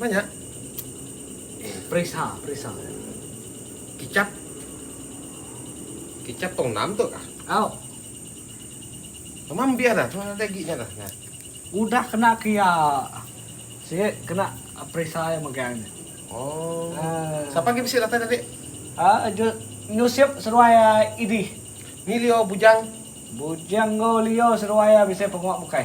Nanya. Perisa, perisa. Kicap. Kicap tong enam tu kah? Au. Nama mbiar dah, tu ada ginya dah. Nah. Udah kena ke iya. Sik kena perisa iya megang nya. Oh. Uh. Siapa lagi bisi datai tadi? Ah, uh, Jut Nyusip seruai uh, Idi. Ni Leo Bujang. Bujang go Leo seruai uh, bisi penguak bukai.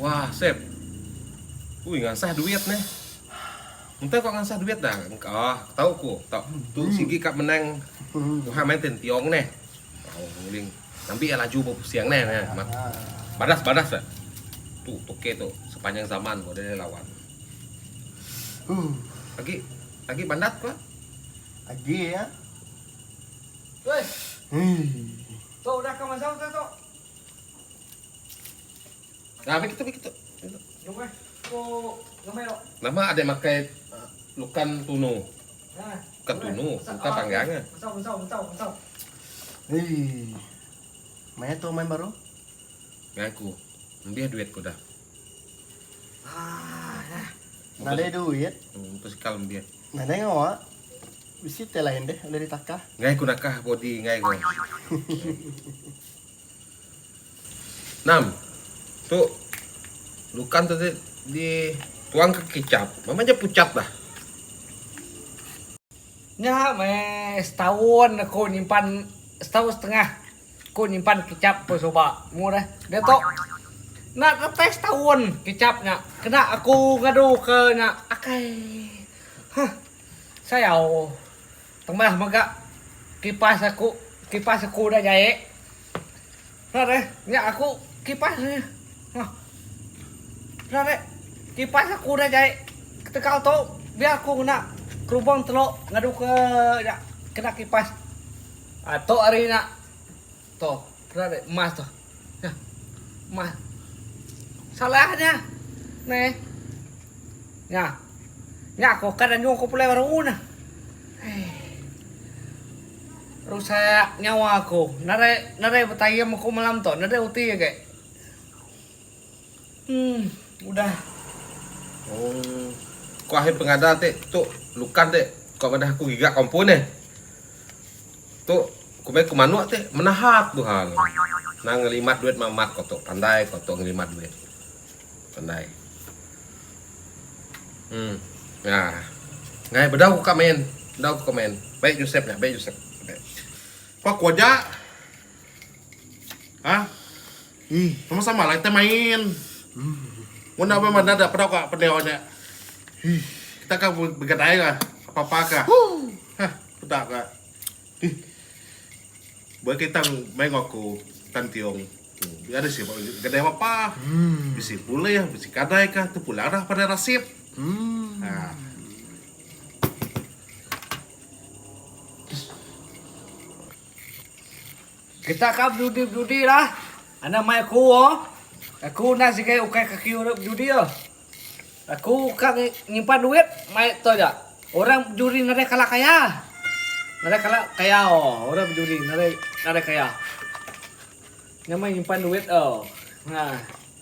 Wah sep. Ui ngansah duit neh. Enta ko ngansah duit dah. Engkah tau ko tau tu sigi ka menang Tuhan main tentiong neh. Tau nguling ngambi iya laju bepusing neh. Badas badas dah. Tu toke tu sepanjang zaman ko deh lawan. Agi agi bandat ko. Agi ya. Weh. Tok udah ka mazau tah tok. Nah meh kitu meh kitu. Jom meh ko ngamai tok. Nama adik makai lukan tunu. Bukan tunu, lukan panggang ah. Mesau mesau mesau mesau. Hei. Maya tu main baru? Ngaku. Nambih duit ku dah. Ah, nah. Nadai duit. Hmm, tu sekal nambih. Nadai ngawa. Bisi teh lain deh ulih ditaka. Ngai ku nakah body ngai ko. Nam. Tu lukan tu di di tuang ke kicap. Mama ja pucat dah. Nya meh setaun aku nyimpan setaun setengah ku nyimpan kicap ku suba. Mu deh. Dia tu enda datai setaun kicap nya kena aku ngadu ke nya. Akai. Huh. Sayau. Temah mega kipas aku, kipas aku udah jai. Rat eh, nya aku kipas nya. Hah. Rat eh, kipas aku udah jai. Ketegal tu biar aku ngena kerubung telo ngadu ke nya kena kipas. Atok ari nya. Tu, kena deh emas tu. Nah. Emas. Salahnya. Nih. Nah. Nya aku kan anjung aku pulai baru nah. Eh. Rusak nyawa aku. Narai narai betayam aku malam tu. Narai uti agi. Umm udah. Umm ko ahi pengada ti tu lukan ti ko madah aku giga kompun ih. Tu ku meh ku manuk ti menahat bu hal. Nang ngelimat duit meh amat ko tu pandai ko tu ngelimat duit. Pandai. Umm ngah. Ngai bedau ku ka main. Bedau ku ka main. Baik Josep nya baik Josep. Pak ku aja. Hah. Umm sama sama lah kita main. Mun enda main madah dak pedau ka pendiau nya. Hih kita ka begadai ka apa apa ka. Hah peda ka. Hih. Ba kita main enggau aku Tan Tiong. Dia ada sibuk gadai apa apa. Bisi pulih bisi kadai ka tu pulang dah pada rasip. Hmm. Ha. Kita ka bedudi bedudi lah. Anak mai aku o. Aku udah sigai ukai kaki urip bedudi o. Aku ka nyimpan duit mai to ja. Orang bedudi nadai kala kaya. Nadai kala kaya o orang bedudi nadai nadai kaya. Nya mai nyimpan duit o. Nah.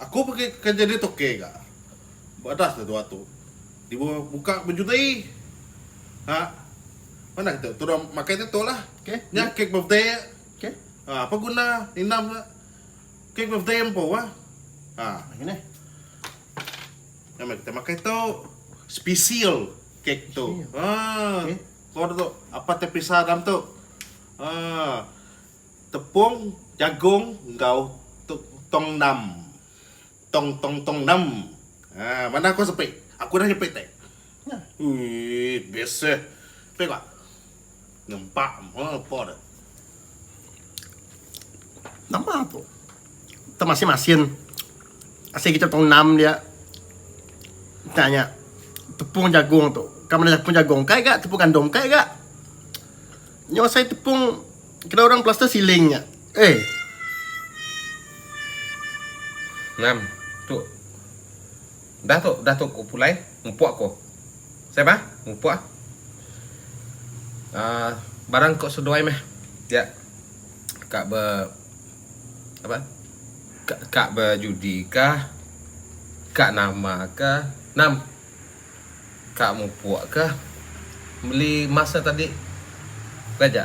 Aku pagi ke kereja ditu ke ga. Badas deh tua tu. Tibu buka bejuti. Ha. Mana kita tuduh makai ditu lah. Nya kek birthday. Ha apa guna indam nya. Kek birthday empu ah. Ha. Nya meh kita makai tu. Special kek tu. Ha. Ko ditu apa te pisa dalam tu. Ha. Tepung, jagung enggau tongnam. Tong tong tongnam. Ha manah ko sepi. Aku udah nyepi te. Uii best eh. Sepi ko. Nempa mo ko de. Nama tu? Te masin masin. Asin kita tongnam dia. Tanya tepung jagung tu. Kamu nak tepung jagung kai ga tepung gandum kai ga. Nya osai tepung kena orang plaster siling nya. Eh. Ngam. Tu. Dah tu, dah tu ku pulai. Ngupuk aku. Saya bah, ngupuk ah. Uh, barang kok seduai meh. Ya. Kak be apa? Kak, kak be judi kah? Kak nama kah? Nam. Ka mupuk ke meli emas nya tadi Raja.